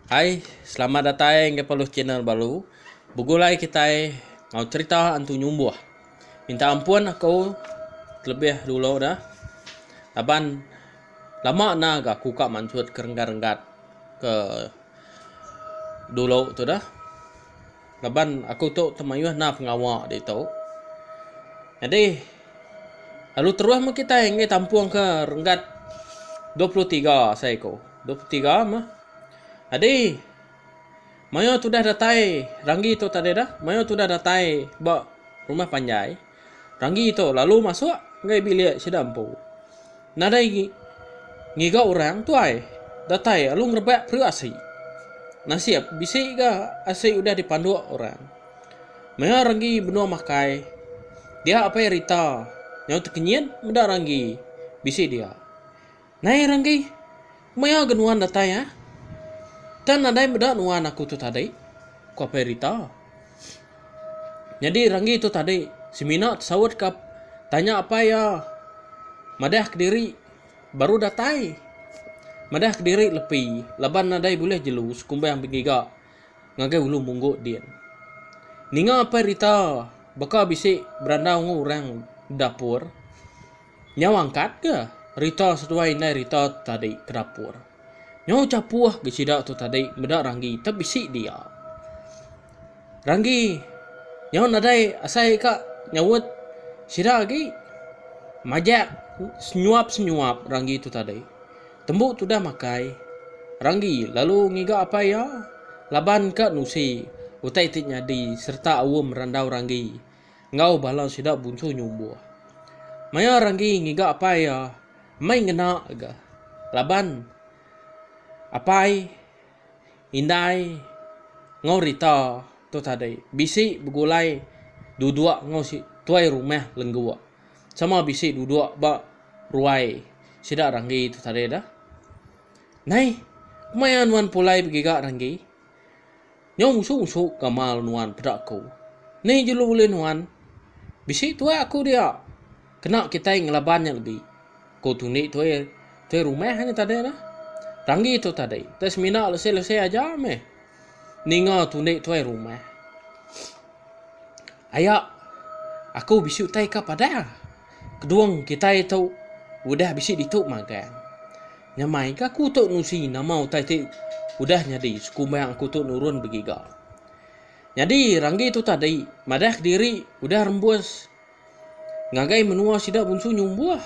Hai, selamat datai enggai peluh channel baru. Begulai kitai ngau cerita antu nyumbuh. Minta ampun aku telebih dulu dah. Laban Lama enda ga aku ka mansut ke renggat renggat ke dulu tu dah laban aku tu temayuh enda pengawa ditu nyadi lalu terus meh kitai enggai tampung ke renggat dua puluh tiga asai ku dua puluh tiga meh nyadi mayuh tudah datai ranggi tu tadi dah mayuh tudah datai ba rumah panjai. Ranggi tu lalu masuk enggai bilik sida empu. Nadai ngiga orang tuai datai lalu ngerebak peri asi. Nasib bisi ga asi udah dipanduk orang. Maya Ranggi benung makai, dia apai Rita nyau tekenyit meda Ranggi bisi dia. Nai Ranggi, maya ga nuan datai ah? Kan nadai meda nuan aku tu tadi, ku Apai Rita. Nyadi Ranggi tu tadi, semina tesaut ka tanya apai iya. Madah kediri baru datai. Madah kediri lepi laban nadai bulih jelu sekumbang bengiga ngagai Ulu Munggut din. Ninga Apai Rita baka bisi berandau enggau orang bedapur. Nyau angkat ga rita seduai indai rita tu tadi ke dapur. Nyau chapuh ga sida tu tadi meda Ranggi tang bisi dia. Ranggi nyau nadai asai ka nyaut sida agi. Majak senyuap-senyuap Ranggi tu tadi. Tembu tudah makai, Ranggi lalu ngiga apai iya laban ka nusi utai ti nyadi sereta aum randau Ranggi. Enggau bala sida bunsu nyumbuh. Maya Ranggi ngiga apai iya, mei ngena ga laban apai, indai enggau Rita tu tadi bisi begulai duduk enggau si tuai rumah lengguk. Sama bisi duduk ba ruai sida Ranggi tu tadi dah. Nai, kuma iya nuan pulai begiga Ranggi? Nyau usuk-usuk gamal nuan peda aku. Ni jelu ulih nuan? Bisi tuai aku dia. Kena kitai ngelaban nya lebi. Ko tundi tuai tuai rumah nya tadi nah. Ranggi tu tadi deh semina lesi-lesi aja meh ninga tundi tuai rumah. Aya, aku bisi utai ka padang. Kedung kitai tu udah bisi ditu magang. Nyamai ga aku tu nusi nama utai ti udah nyadi sekumbang aku tu nurun begiga. Nyadi Ranggi tu tadi madah kediri udah rembus ngagai menua sida bunsu nyumbuh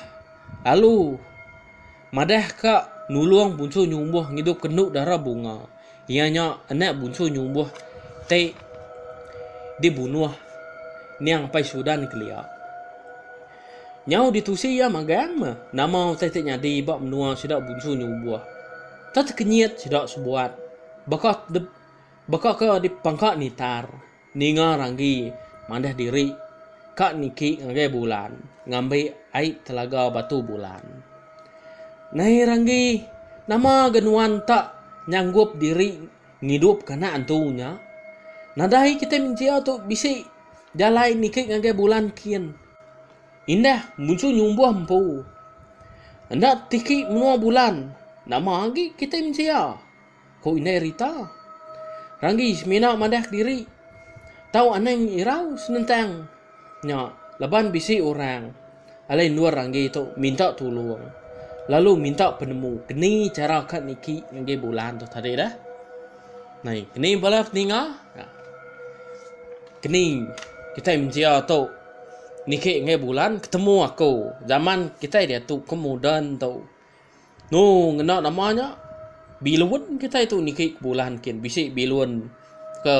lalu. Madah ka nulung Bunsu Nyumbuh ngidupka Enduk Dara Bunga, iya nya anak Bunsu Nyumbuh ti dibunuh Niang Apai Sudan kelia. Nyau ditusi iya magang meh nama utai ti nyadi ba menua sida Bunsu Nyumbuh. Tau tekenyit sida sebuat baka baka ke dipangka Nitar. Ninga Ranggi mandah diri ka niki ngagai bulan ngambi ai telaga batu bulan. Nai Ranggi, nama ga nuan tak nyanggup diri ngidup ka anak antu nya? Nadai kitai mensia tu bisi jalai niki ngagai bulan kin. Indah munsu nyumbuh empu. Enda tiki menua bulan, nama agi kitai mensia. Ku Indai Rita. Ranggi semina madah kediri. Tau anang irau senentang nya laban bisi orang alai endur Ranggi tu minta tulung lalu minta penemu keni chara ka niki ngagai bulan tu tadi dah. Nai keni bala peninga keni kitai mensia tu niki ngagai bulan ketemu aku zaman kitai diatu ke moden tu. Nu ngena nama nya bilun kitai tu niki ke bulan kin bisi bilun ke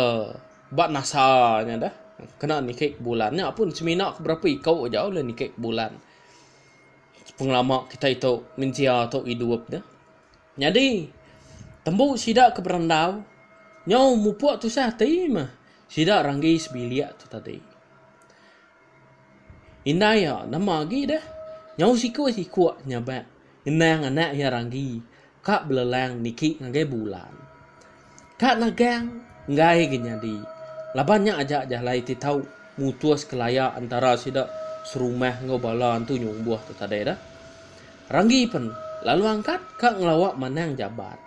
ba nasa nya deh kena niki ke bulan nya pun semina ke berapa iko aja ulih niki ke bulan pengelama kitai tu mensia tu idup ne. Nyadi tembu sida ke berandau nyau mupuk tusah ati meh sida ranggi sebilik tu tadi. Indai iya nama agi deh. Nyau sikuk-sikuk nya ba ngenang anak iya Ranggi ka belelang niki ngagai bulan. Ka nagang enggai agi nyadi laban nya aja jalai ti tau mutus kelaya entara sida serumah enggau bala antu nyumbuh tu tadi deh. Ranggi pen lalu angkat ka ngelawa manang jabat.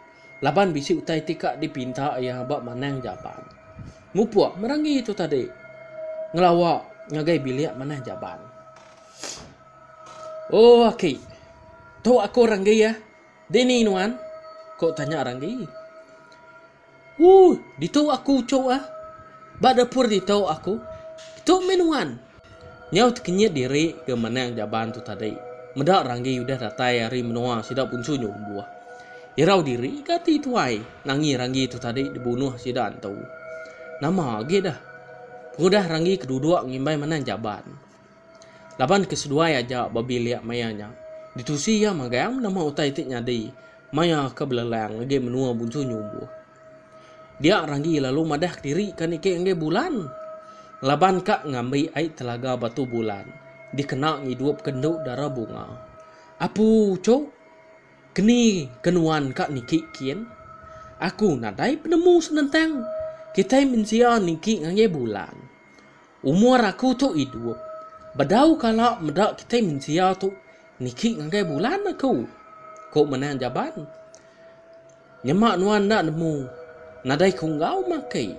Laban bisi utai ti ka dipinta iya ba Manang Jaban. Mupuk merangi tu tadi ngelawa ngagai bilik Manang Jaban. Oh aki, tu aku Ranggi ah. Dini nuan? Ku tanya Ranggi. Ooh, ditu aku uchu ah. Ba dapur ditu aku. Tu mih nuan? Nyau tekenyit diri ke menang jaban tu tadi. Meda Ranggi udah datai ari menoa sida punsu nyu lebuh. Irau diri ke ati tuai nangi Ranggi tu tadi dibunuh sida entu. Nama agi deh. Pengudah Ranggi keduduk ngimbai menang jaban. Laban ke seduai aja ba bilik maya nya. Ditusi iya magang nama utai ti nyadi maya ke belelang agi menoa punsu nyu lebuh. Dia Ranggi lalu madah kediri ka niki enggai Bulan laban ka ngambi ai telaga batu Bulan dikena ngidup ka endu dara bunga. Apu uchu, keni ka nuan ka niki kin? Aku nadai penemu senentang kitai mensia niki ngagai Bulan. Umur aku tu idup. Bedau kala meda kitai mensia tu niki ngagai bulan aku, ku Menang Jaban. Nyema nuan enda nemu nadai ku enggau maki.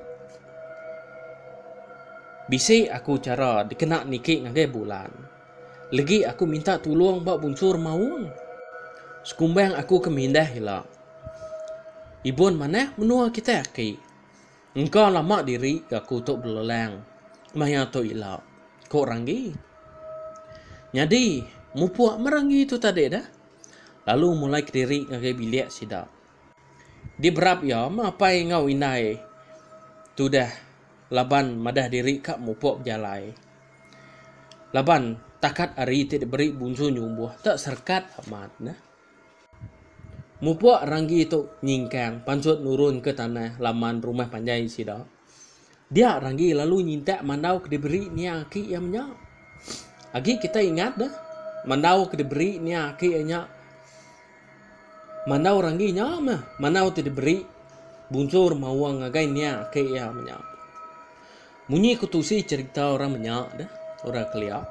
Bisi aku chara dikena niki ngagai bulan. Legi aku minta tulung ba Bunsu Remaung. Sekumbang aku ke mindah ila. Ibun manah menua kitai aki. Engka lama diri ke aku tu belelang maya tu ila, ku Ranggi. Nyadi, mupuk meh Ranggi tu tadi dah, lalu mulai kediri ngagai bilik sida. Diberap iya meh apai enggau indai tu dah laban madah diri ka mupuk bejalai. Laban takat hari ti diberi Bunsu Nyumbuh tu serekat amat neh. Mupuk Ranggi tu nyingkang pansut nurun ke tanah laman rumah panjai sida. Dia Ranggi lalu nyintak mandau ke diberi nia aki iya menya. Agi kitai ingat deh, mandau ke diberi nia aki iya nya mandau Ranggi nya meh mandau ti diberi bunsur maung ngagai nia aki iya menya. Munyi ku tusi cherita orang menya deh, orang kelia.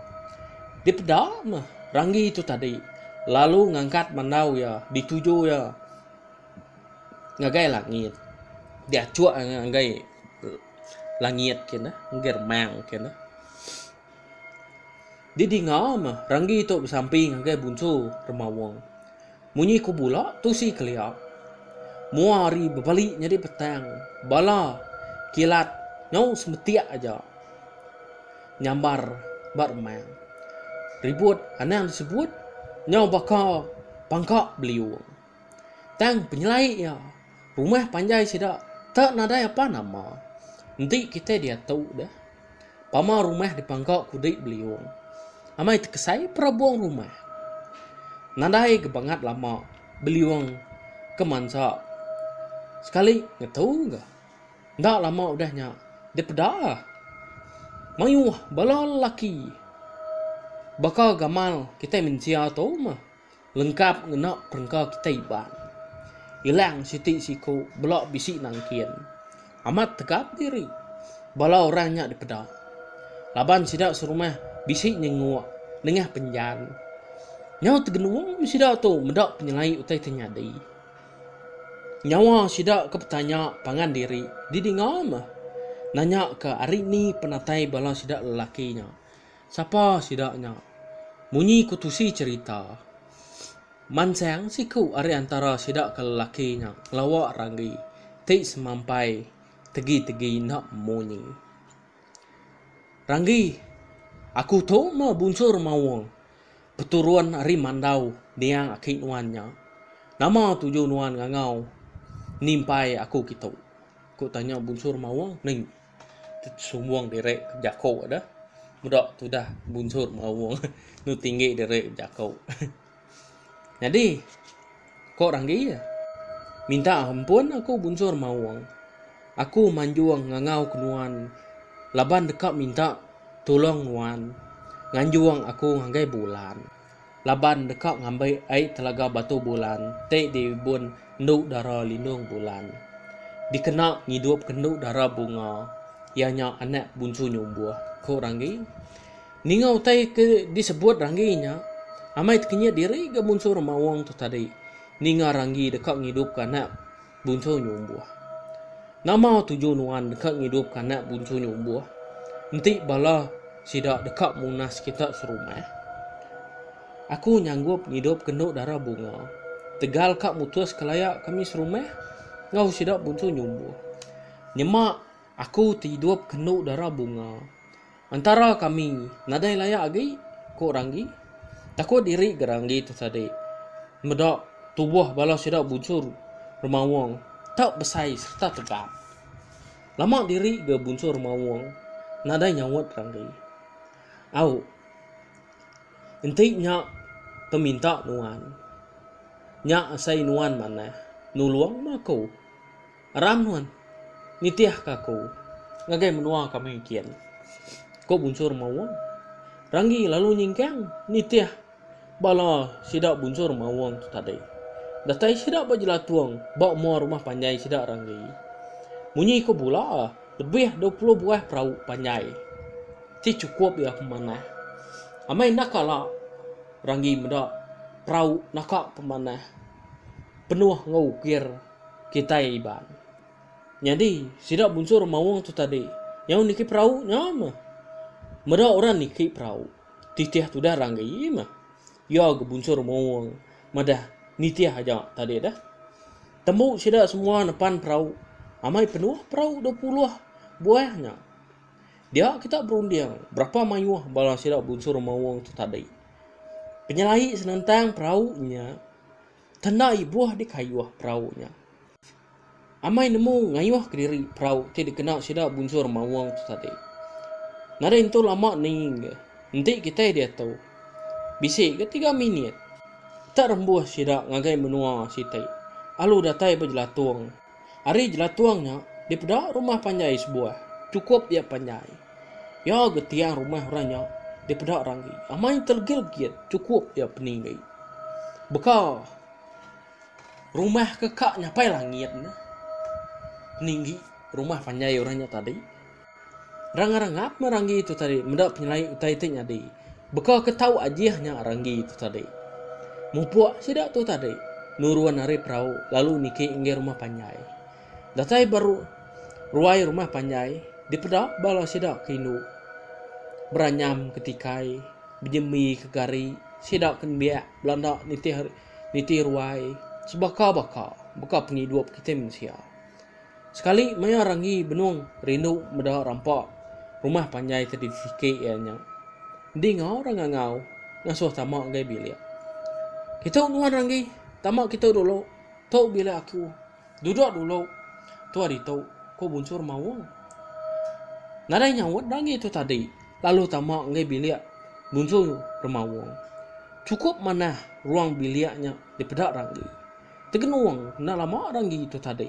Dipeda meh Ranggi tu tadi lalu ngangkat mandau iya dituju iya ngagai langit. Diachuk iya ngagai langit kinih, ngagai remang kinih. Didinga meh Ranggi tu besampi ngagai Bunsu Remawang. Munyi ku bula tu si kelia. Mua hari bebali nyadi petang, bala kilat nyau semetik aja nyambar ba remang. Ribut anang disebut nyau baka pangka beliung. Tang penyelai iya, rumah panjai sida tak nadai apa nama. Enti kitai diatu deh, pama rumah dipangka kudi beliung. Amai tekesai perabung rumah. Nadai ke bangat lama beliung ke mansa sekali ngetu ga. Enda lama udah nya dipeda mayuh bala lelaki baka gamal kitai mensia tu meh. Lengkap ngena perengka kitai Iban. Ilang siti siku bela bisi nangkin. Amat tegap diri bala orang nya dipeda. Laban sida serumah bisi nyenguk nengah penjan. Nyau tegenung sida tu meda penyelai utai ti nyadi. Nyawa sida ke betanya pangan diri didinga meh nanya ke ari ni penatai bala sida lelaki nya. Sapa sida nya? Munyi ku tusi cherita, mansang siku ari antara sida ke lelaki nya ngelawa ranggi ti semampai tegi-tegi enda munyi. Ranggi, Aku tu meh bunsur maung peturun ari Mandau niang aki nuan nya. Nama tuju nuan ngangau nimpai aku kitu? Ku tanya bunsur maung. Tesumbung diri bejaku da. Meda tudah bunsut maung tu tinggi diri bejaku. Nyadi ko Ranggi iya, minta ampun aku bunsut maung. Aku manjung ngangau ke nuan laban deka minta tulung nuan nganjung aku ngagai bulan. laban deka ngambi ai Telaga Batu Bulan ti dibun Endu Dara Lindung Bulan. Dikena ngidupka Endu Dara Bunga iya nya anak Bunchu Nyumbuh, ku Ranggi. Ninga utai ke disebut Ranggi nya, amai tekenyit diri ga Bunchu Remaung tu tadi ninga Ranggi deka ngidupka anak Buncu nya umbuh. Nama tuju nuan deka ngidupka anak buncu nya umbuh? Enti bala sida deka munas kita serumah? Aku nyanggup ngidupka endu dara bunga tegal ka mutuska laya kami serumah enggau sida buncu nya umbuh. Nyema aku ti idupka endu dara bunga Entara kami nadai layak agi, ku Ranggi. Takut diri ga Ranggi tu tadi. Meda tubuh bala sida bunsur Remaung tau besai sereta tegap. Lama diri ga bunsur Remaung nadai nyaut Ranggi. Au. Enti nya peminta nuan. Nya asai nuan manah nulung mah ku. Ram nuan nitihka aku ngagai menua kami kian, ku bunsur Mawung. Ranggi lalu nyingkang nitih bala sida bunsur Mawung tu tadi. Datai sida ba jelatung ba mua rumah panjai sida Ranggi. Munyi ku bula, lebih dua puluh buah perau panjai ti chukup iya pemanah. Amai enda kala Ranggi meda perau naka pemanah penuh enggau ukir. Kitai Iban. Nyadi, sida bunsur Mawang tu tadi, nyau niki perau nya meh. Meda orang niki perau, titih tudah ranggi meh. Iya ga bunsur Mawang madah nitih aja tadi dah. Tembu sida semua nepan perau, amai penuh perau dua puluh buah nya. Dia kita berunding berapa mayuh bala sida bunsur Mawang tu tadi. Penyelai senentang perau nya. Kena ibuh dikayuh perau nya. Amai nemu ngayuh kediri perau ti dikena sida bunjur maung tu tadi. Nadai entu lama ninging ke, enti kitai diatu, bisi ke tiga minit, tak rembuh sida ngagai menua siti, alu datai bejelatung Ari jelatung nya, dipeda rumah panjai sebuah. Chukup iya panjai. Iya ga tiang rumah orang nya dipeda ranggi. Amai telegit-legit chukup iya peninggi. Baka rumah ke ka nyapai langit. Peninggi rumah panjai orang nya tadi. Rang-rang ngapa ranggi tu tadi meda penyelai utai ti nyadi. Beka ke tau ajih nya ranggi tu tadi. Mupuk sida tu tadi nurun ari perau lalu niki enggai rumah panjai. Datai ba ruai rumah panjai dipeda bala sida ke indu beranyam ke tikai bejembi ke gari sida ke nembiak belanda nitih nitih ruai sebaka-baka baka pengidup kitai mensia. Sekali maya Ranggi benung rindu meda rampa rumah panjai ke difikir iya nya. Enti enggau orang ngangau, ngasuh tama ngagai bilik. Kitu nuan Ranggi, tama kitu dulu. Tu bilik aku. Duduk dulu tua ditu, ku Bunsur Maung. Nadai nyaut Ranggi tu tadi, lalu tama ngagai bilik Bunsur Remaung. Chukup manah ruang bilik nya dipeda Ranggi. Tegenung enda lama dah enggi tu tadi.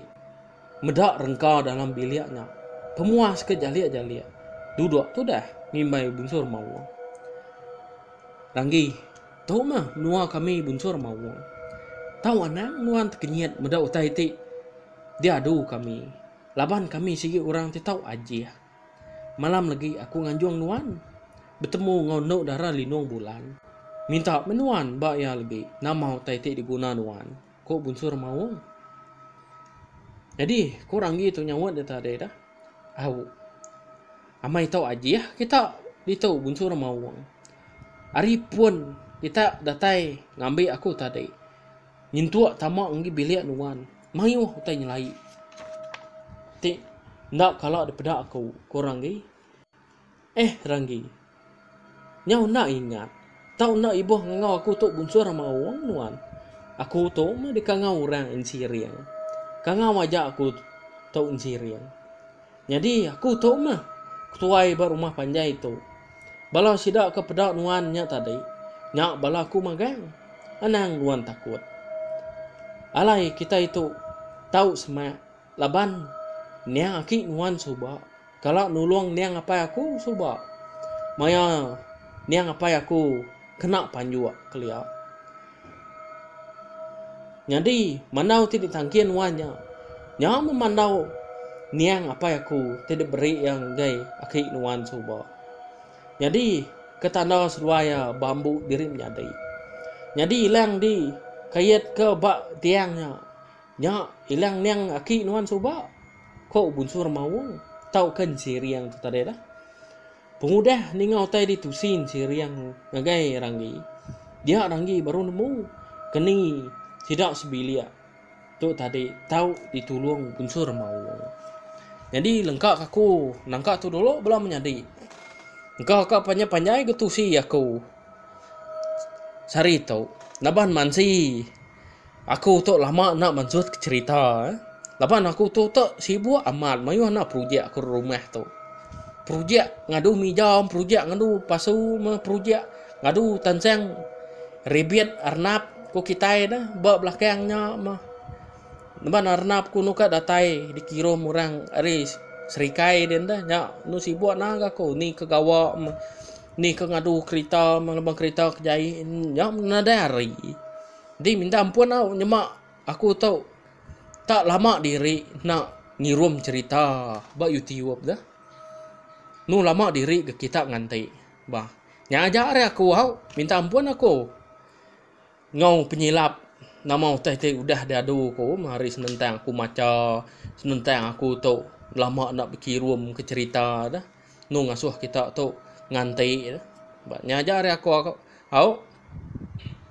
Meda rengka dalam bilik nya. Pemuas ke jalik-jalik. Duduk tudah ngimbai bunsur maung. Ranggi, tu mah menua kami bunsur maung. Tau anang nuan tekenyit meda utai ti diadu kami. Laban kami sigi orang ti tau ajih. Malam legi aku nganjung nuan. Betemu enggau endo dara linung bulan. Minta meh nuan ba iya legi nama utai ti diguna nuan, ku Bunsu Remaung. Nyadi ku Ranggi tu nyaut deka tadi dah. Au. Amai tau ajih kita ditu, Bunsu Remaung. Ari pun kita datai ngambi aku tadi. Nyentuk tama enggi bilik nuan. Mayuh utai nyelai ti enda kala dipeda aku ku Ranggi. Eh Ranggi. Nyau enda ingat tau enda ibuh ngangau aku tu bunsur ama aung nuan. Aku tu meh dikangau orang ensiring. Kangau aja aku tu ensiring. Nyadi aku tu mah ketuai ba rumah panjai tu. Bala sida ke peda nuan nya tadi, nya bala aku magang. Anang nuan takut. Alai kitai tu tau semak laban niang aki nuan suba kala nulung niang apai aku suba maya niang apai aku kena panjuk kelia. Nyadi, mandau ti ditangkin wan nya, nya meh mandau niang apai aku ti diberi iya ngagai aki nuan suba. Nyadi, ke tanda seduai iya ba embu diri menyadi. Nyadi ilang di kait ke ba tiang nya, nya ilang niang aki nuan suba, ko Bunsur Maung tauka Ensiriang tu tadi lah. Pengudah ninga utai di tusin siring ngagai Ranggi, dia Ranggi baru nemu keni sida sebilik tu tadi tau ditulung Bunsur Maul. Nyadi lengka kaku nangka tu dulu bela menyadi. Engka ka panjai-panjai getusi aku sehari tu naban mansi. Aku tu lama enda mansut ke cerita eh. Laban aku tu tu sibuk amat mayuh anak projek aku rumah tu. Projek ngadu mija, projek ngadu pasu, meh projek ngadu tansang ribit arnap ku kitai dah ba belakang nya meh. Laban arnap ku anu ka datai dikirum orang ari serikai din dah nya anu sibuk naga aku ni ke gawa meh. Ni ke ngadu kerita ngelebang kerita ke jai nya nadai hari. Enti minta ampun au nyema aku tu tak lama diri enda ngirum cherita ba youtube tu. Nu lama diri ke kita nganti bah. Nya aja ari aku au minta ampun aku enggau penyilap nama utai ti udah diadu ku ari senentang aku macha senentang aku tu lama enda bekirum ke cherita tu. Enu ngasuh kita tu nganti ne ba nya aja ari aku au.